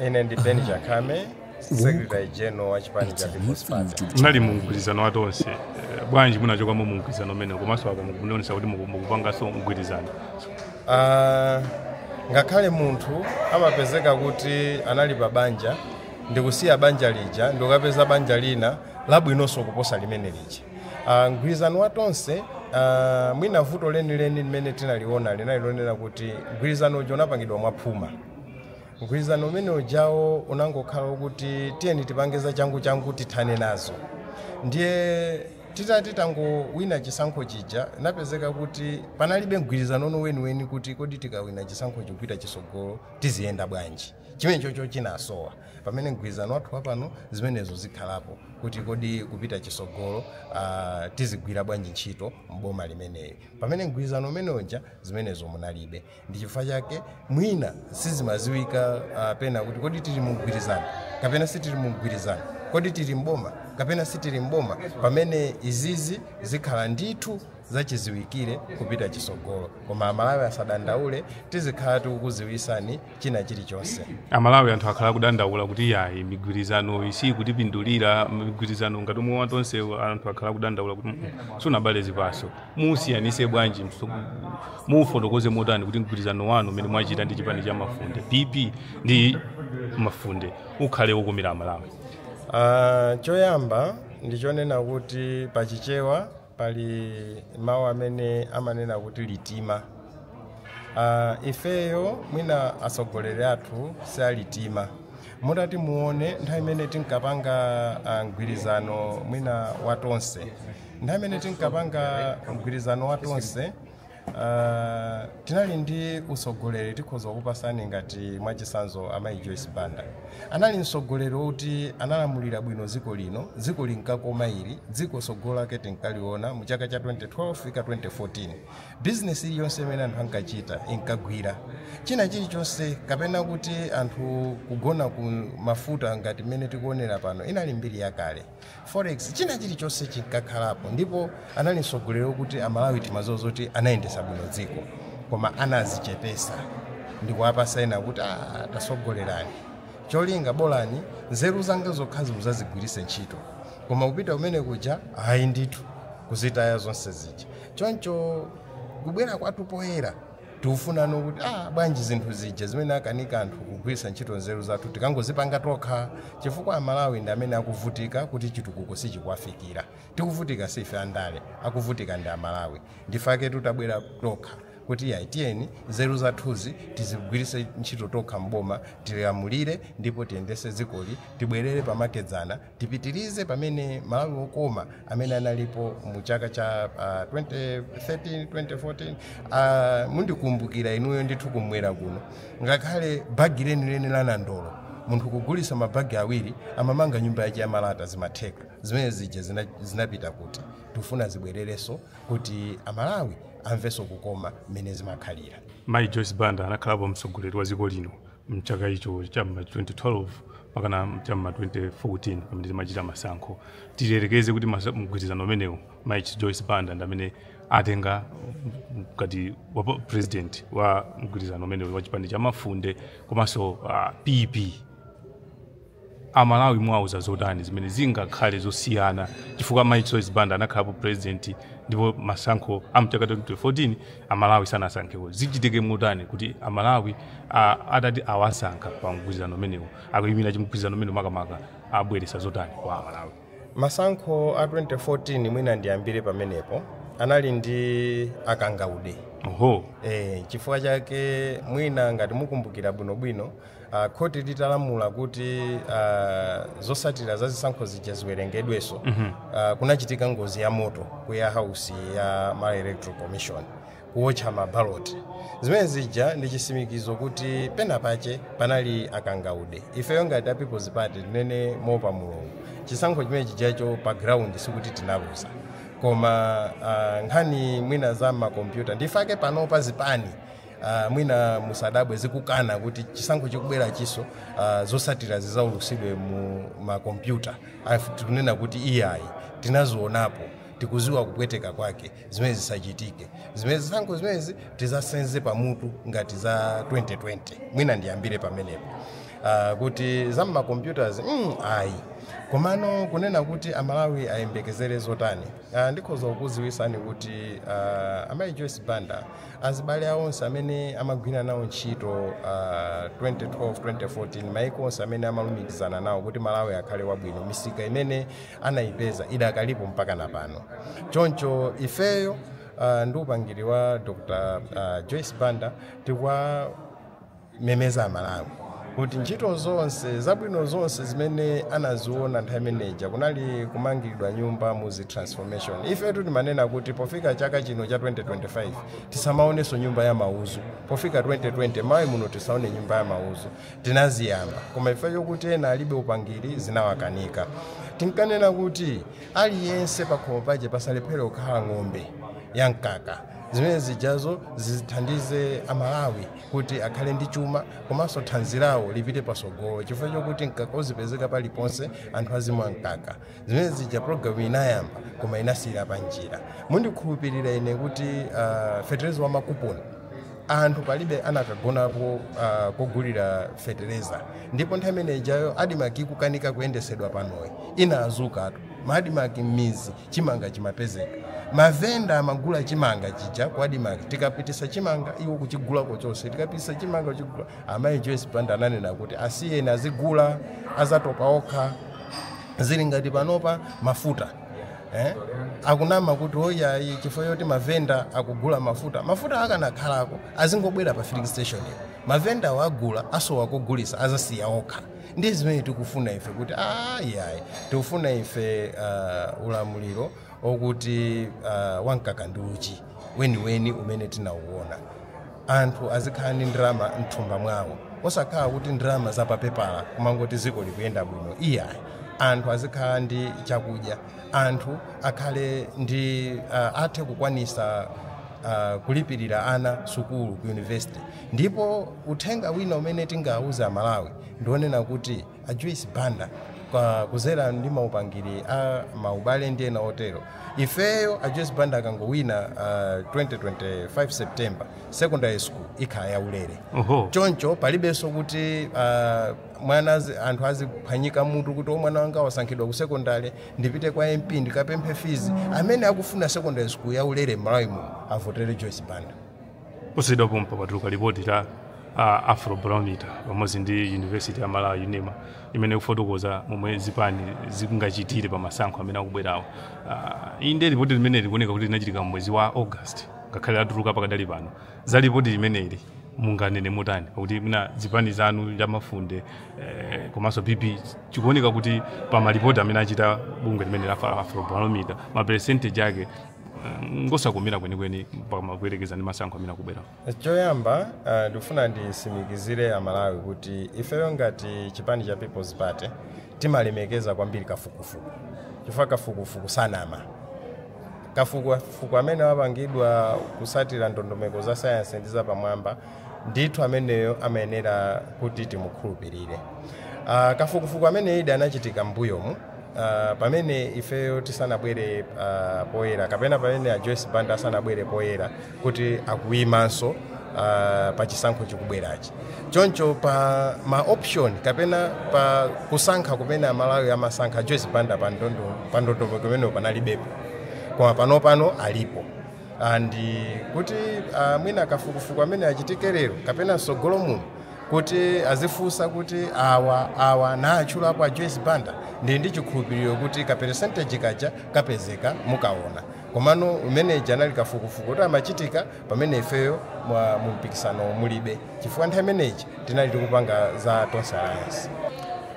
ine ndi ben chakhame secretary general wa chipani cha people's party munali mu mgwirizano wa tonse Eh, bwanji munachokamo mu mgwirizano umenewu komanso apa mukuonesa kuti muku- mukupanganso mgwirizano Ah, ngakhale munthu amapezeka kuti anali pa banja ndikusiya banja lija ndikukapeza banja lina labwinonso kuposa limene lija Ah, mgwirizano wa tonse ah, mwina vuto lenileni limene tinaliona linali lonena kuti mgwirizano uja unapangidwa mwaphuma Mgwirizano umene ujawo unangokhala wokuti tiyeni tipange zachanguchangu tithane nazo. Ndiye titati tangowina chisankho chija, inapezeka kuti panalibe mgwirizanono weniweni kuti kodi tikawina chisankhochi kupita chitsogolo tiziyenda bwanji. Chimenechocho chinasowa. Pamene mgwirizano wathu wapano zimenezo zikhalapo kuti kodi kupita chitsogolo ah, tizigwira bwanji ntchito m'boma limeneli. Pamene mgwirizano umene uja zimenezo munalibe. ndi chifukwa chake mwina sizimaziwika uh, pena kuti kodi tili mumgwirizano kapena sitili mumgwirizano kodi tili mboma kapena sitili mboma pamene izizi zikhala ndithu zachiziwikire kupita chisogolo koma amalawi asadandaule tizikhala tikukuziwisani china chilichonse amalawi anthu akhala kudandaula kuti yayi migwirizanoyi sikutipindulira migwirizano ngati omwe watonsewu anthu akhala kudandaula kuti sunabale zipaso muwusiyanise bwanji mso- muufotokoze motani kuti mgwirizano wanu umene mwachita ndi chipani cha mafunde pp ndi mafunde ukhale wokomera amalawi Ah, choyamba ndichonena kuti pa chichewa pali mawu amene amanena kuti litima Ah, ifeyo mwina atsogoleri athu si alitima mutati muone nthawi imene tinkapanga ah, mgwirizano mwina watonse nthawi imene tinkapanga mgwirizano wa tonse ah, tinali ndi utsogoleri tikhoza kukupasani ngati mwachisanzo amayi joyce banda anali mtsogoleri woti analamulira bwino dziko lino dziko linkakoma ili dziko tsogolo lake tinkaliona mu chaka cha 2012 fika 2014 bizinesi iliyonse imene anthu ankachita inkagwira china chilichonse kapena kuti anthu kugona ku mafuta ngati mmene tikuonera pano inali mbiri yakale Forex china chilichonse chinkakhalapo ndipo anali mtsogoleri wokuti Amalawi timadziwa zoti anayendetsa bwino dziko koma anazichepesa ndikuwapasa ena kuti ah, tasogolerani cholinga bolani nzeru zanga zokhazi muzazigwirise ntchito koma kupita kumene kuja ayi ndithu kuzitaya zonse zija choncho kubwera kwathu poyera Tikufuna no kuti ah, bwanji zinthu zija zimene akanika anthu kugwiritsa ntchito nzeru zathu tikangozipanga tokha, chifukwa Amalawi ndi amene akuvutika kuti chitukuko sichikuwafikira. Tikuvutika si ife andale, akuvutika ndi Amalawi. Ndifaketu tabwera tokha kuti yayi tiyeni nzeru zathuzi tizigwiritse ntchito tokha m'boma, tilamulire ndipo tiyendetse dzikoli, tibwerere pamakedzana. Tipitilize pamene Malawi wokoma amene analipo mu chaka cha uh, 2013 2014 uh, mundikumbukira inuyo ndithu kumwera kuno ngakhale bagi lenileni la nandolo munthu kugulisa mabagi awiri amamanga nyumba yake ya malata zimatheka zimene zija zina- zinapita kuti tifuna zibwererenso kuti amalawi amvenso kukoma mmene zimakhalira Mayi Joyce Banda anakhalapo mtsogoleri wa dziko lino mchaka icho cha ma 2012 mpakana cha ma 2014 pamene timachita masankho tiyerekeze kuti masa- mgwirizano umenewu Mayi Joyce Banda ndi amene atenga ngati wa po- president wa mgwirizano umenewu wa chipani cha mafunde komanso uh, pp A Malawi muwauza zotani zimene zingakhale zosiyana chifukwa mayi Joyce Banda anakhalapo president ndipo masankho a mchaka 2014 a Malawi sanasankhewo. Zichitike motani kuti a Malawi a, atati awasankha pa mgwirizano umenewu akuyimira chimgwirizano umenewu makamaka abweresa zotani kwa a Malawi? Masankho a 2014 mwina ndiyambire pamenepo anali ndi akangaude. Oho. Eh, chifukwa chake mwina ngati mukumbukira bwinobwino Uh, khoti litalamula kuti uh, zotsatira za zisankho zija ziwerengedwenso uh, kunachitika ngozi ya moto ku warehouse ya Malawi Electoral Commission kuwotcha mabaloti zimene zija ndi chisimikizo kuti pena pache panali akangaude ifeyo ngati a people's party tinene moopa Mulungu chisankho chimene chijacho pa ground sikuti tinaluza koma uh, nkhani mwina za makompyuta ndifake panopa zipani Uh, mwina musadabwe zikukana kuti chisankho chikubwerachiso uh, zosatira zizaulusidwe mu makompyuta tikunena kuti iyayi tinazionapo tikuziwa kupweteka kwake zimene zisachitike zimene zisankho zimenezi tizasenze pamutu ngati za 2020 mwina ndiyambire pamenepo uh, kuti za mmakompyutazi mm, ayi komano kunena kuti amalawi ayembekezere zotani Ah, ndikhoza kukuziwisani kuti ah, amayi joyce banda abale awo onse amene amagwira nawo ntchito ah, 2012 2014 maiko onse amene amalumikizana nawo kuti malawi akhale wabwino misika imene anayipeza idakalipo mpaka napano choncho ifeyo ah, ndi upangiri wa dr ah, joyce banda tikwa memeza amalawi kuti ntchito zonse zabwino zonse zimene anaziona nthawi imeneja kunali kumangidwa nyumba muzi transformation ifetu timanena kuti pofika chaka chino cha 2025 tisamaonenso nyumba ya mauzu pofika 2020 Malawi muno tisaone nyumba ya mauzu tinaziyamba koma ife chokuti ena alibe upangiri zinawakanika tinkanena kuti aliyense pakhomo pake pasalephere kukhala ng'ombe ya mkaka zimene zijazo zithandize amalawi kuti akhale ndi chuma komanso thanzi lawo lipite pasogolo chifukwa chokuti mkaka uzipezeka paliponse anthu azimwa mkaka zimene zija programu inayamba koma inasiyira panjira mundikhulupirira ine kuti uh, fetereza wa makuponi anthu palibe anakagonapo uh, kogulira fetereza ndipo nthawi imene ijayo adimaki kukanika kuyendesedwa panoyi inadzukatu maadimaki m'mizi chimanga chimapezeka. Mavenda amagula chimanga chija ku Admarc. Tikapitisa chimanga iwo kuchigulako chonse. Tikapitisa chimanga kuchigula. Amayi Joyce Banda ananena kuti asiyeni azigula azatopa okha. Zili ngati panopa mafuta. Eh? akunama kuti o iyayi chifukwa choti mavenda akugula mafuta mafuta akanakhalako azingobwera pa filling station iyo mavendawo agula asowa kogulisa azasiya okha ndi zimene tikufuna ife kuti iyayi tikufuna ife uh, ulamuliro okuti uh, wamkaka ndi uchi weniweni umene tinauona anthu azikhala ndi ndalama mthumba mwawo osakhala kuti ndalama zapapepala kumangoti ziko likuyenda bwino iyayi anthu azikhala ndi chakudya anthu akhale ndi uh, athe kukwanisa uh, kulipirira ana sukulu ku university Ndipo uthenga wina umene tingauze aMalawi ndi onena kuti a Joyce Banda kuzera ndi maupangiri a maubale ndi ena otero ifeyo a Joyce Banda akangowina uh, 2025 September secondary school ikhala yaulere Oho. choncho palibenso kuti uh, mwana azi- anthu aziphwanyika mutu kuti o mwana wanga wasankhidwa ku sekondari ndipite kwa mp ndikapemphe fizi amene akufuna sekondari school yaulere m'malawi muno avotere joyce banda posachedwa pompa patuluka lipoti la uh, afrobarometer pamodzi ndi university ya malawi unima imene ikufotokoza momwe zipani zingachitire pa masankho amene akubwerawo uh, ili ndi lipoti limene likuoneka kuti linachitika mwezi wa august ngakhale latuluka pakadali pano za lipoti limeneli munganene motani pakuti mwina zipani zanu za mafunde eh, komanso pp chikuoneka kuti pa malipoti amene achita bungwe limene la afrobarometer maperesentegi ake ngosakumira kwenikweni pamakuyerekeza ndi masankho amene akubwera choyamba uh, ndikufuna ndisimikizire amalawi kuti ifeyo ngati chipani cha people's party timalemekeza kwambiri kafukufuku chifukwa kafukufuku sanama kafukufuku amene wapangidwa kusatira ndondomeko za sayansi ndi zapamwamba ndithu ameneyo amayenera kuti timukhulupirire uh, kafukufuku amene indeed anachitika mbuyomu Uh, pamene ifeyo tisanabwere uh, poyera kapena pamene a Joyce Banda asanabwere poyera kuti akuyimanso uh, pa chisankho chikubwerachi choncho pa ma option kapena pa kusankha kumene amalawi amasankha a Joyce Banda pa ndondo pa ndondomeko imeneyo panalibepo koma pano pano alipo and kuti uh, mwina kafukufuku amene achitike lero kapena msogolo muno kuti azifunsa kuti awa awa naatchulapo a joyce banda ndili ndi chikhulupiriro kuti ka percentage kaja kapezeka mukaona komano umene uja unali kafukufuku kuti amachitika pamene ifeyo mwa- mu mpikisano mulibe chifukwa nthawi imene ija tinali tikupanga za tonse alliance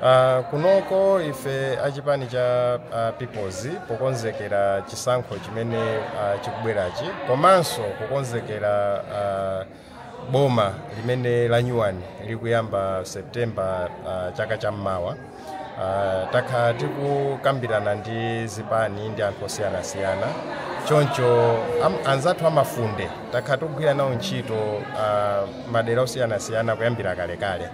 uh, kunoko ife achipani cha uh, peoples pokonzekera chisankho chimene uh, chikubwerachi komanso kukonzekera uh, boma limene lanyuwani likuyamba september uh, chaka cha mmawa Uh, takhala tikukambirana ndi zipani ndi anthu osiyanasiyana choncho am, anzathu amafunde takhala tikugwira nawo ntchito uh, madera osiyanasiyana kuyambira kalekale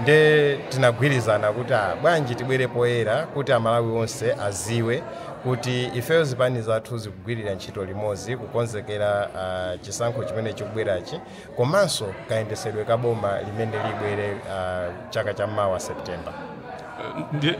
nde tinagwirizana kuti ah, bwanji tibwere poyera kuti amalawi onse aziwe kuti ifeyo zipani zathu zikugwirira ntchito limodzi kukonzekera uh, chisankho chimene chikubwerachi komanso kayendesedwe ka boma limene libwere uh, chaka cha mawa september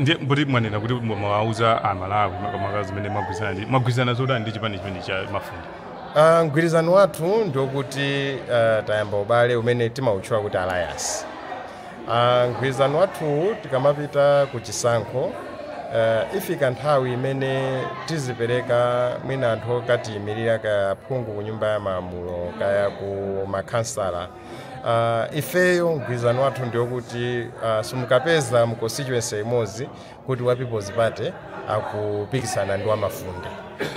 ndiye mboti mwanena kuti mwawauza amalawi makamaka zimene mwagwirizana ndi mwagwirizana zotani ndi chipani chimene cha mafunde uh, mgwirizano wathu ndiokuti uh, tayamba ubale umene timautchula kuti alliance a mgwirizano wathuwu tikamapita ku chisankho uh, ifika nthawi imene tizipereka mwina anthu okatiyimirira kaya phungu ku nyumba ya malamulo kaya ku makhansala uh, ifeyo mgwirizano wathu ndiyokuti uh, simukapeza mu constituency imodzi kuti wa people's party akupikisana ndi wamafunde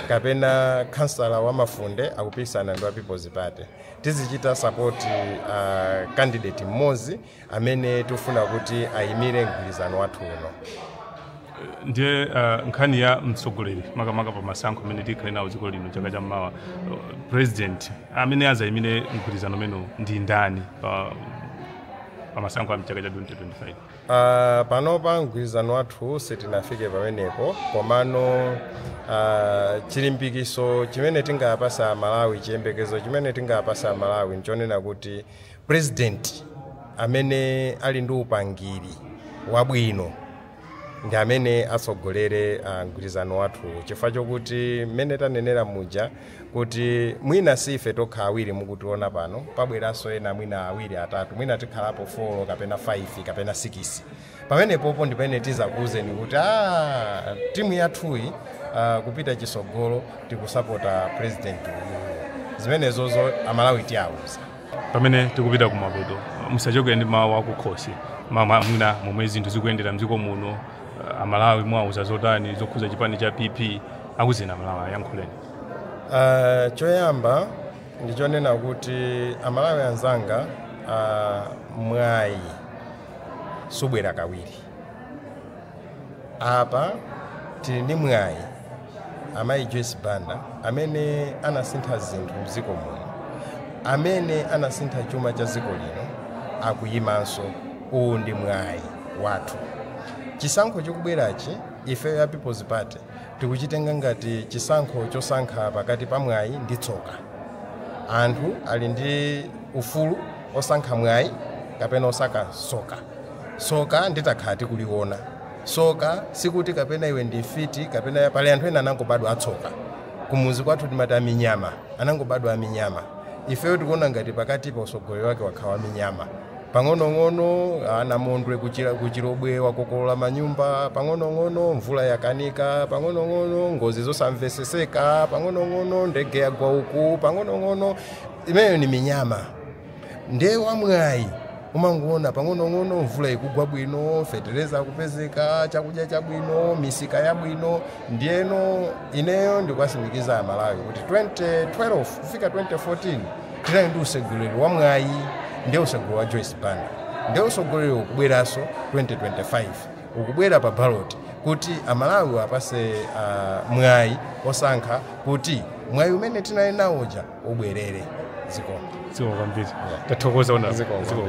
kapena khansala wamafunde akupikisana ndi wa people's party Tizichita support uh, candidate mmodzi amene tifuna kuti ayimire mgwirizano wathu uno. ndiye uh, nkhani ya mtsogoleri makamaka pa masankho amene tikhale nawo dziko lino chaka cha mmawa uh, president amene azayimire mgwirizano umenewu ndi ndani pa, pa masankho a mchaka cha 2025 Uh, panopa mgwirizano wathu sitinafike pamenepo komano uh, chilimbikiso chimene tingawapase amalawi chiyembekezo chimene tingawapase amalawi nchonena kuti president amene ali ndi upangiri wabwino ndi amene atsogolere uh, mgwirizano wathu chifukwa chokuti mmene tanenera muja kuti mwina si ife tokha awiri mukutiona pano pabweranso ena mwina awiri atatu mwina tikhalapo 4 kapena 5 kapena 6 pamenepopo ndi pamene tizakuwuzeni kuti "Ah, timu yathuyi ah, kupita chisogolo tikusapota president uyu zimenezozo amalawi tiwawuza Pamene tikupita kumapeto, musachoke ndi mawu akukhosi ma- ma- mwina momwe zinthu zikuyendera mdziko muno. eh, Amalawi mwauza zotani zokhuza chipani cha PP akuzina Malawi ayankhuleni. Ah, choyamba ndichonena kuti amalawi anzanga ah, mwayi subwera kawiri apa tili ndi mwayi amayi joyce banda amene anasintha zinthu mdziko muno amene anasintha chuma cha dziko lino akuyimanso uwu ndi mwayi wathu chisankho chikubwerachi ifeyo ya people's party tikuchitenga ngati chisankho chosankha pakati pa mwayi ndi tsoka anthu ali ndi ufulu osankha mwayi kapena osankha soka soka ndi takhala tikuliona soka sikuti kapena iwe ndi mfiti kapena pali anthu ena anangobadwa atsoka kumuzi kwathu timati aminyama anangobadwa aminyama ifeyo tikuona ngati pakati pa usogoleri wake wakhala aminyama pang'onong'ono namondwe kuchira- kuchirobwe wakokolola manyumba pang'onong'ono mvula yakanika pang'onong'ono ngozi zosamveseseka pang'onong'ono ndege yagwa uku pang'onong'ono imeneyo ni minyama Ndiye wamwayi umangoona pang'onong'ono mvula ikugwa bwino fetereza akupezeka chakudya chabwino misika yabwino ndiyeno ineyo ndikuwasimikiza amalawi kuti 2012 kufika 2014 tinali ndi usogoleri wa mwayi ndiye usogoleri wa joyce banda ndiye usogoleri ukubweranso 2025 ukubwera pa ballot kuti amalawi uwapase uh, mwayi osankha kuti mwayi umene tinali nawo uja ubwerere zikomo Zikomo kwambiri. Tathokoza ona. Zikomo. Zikomo.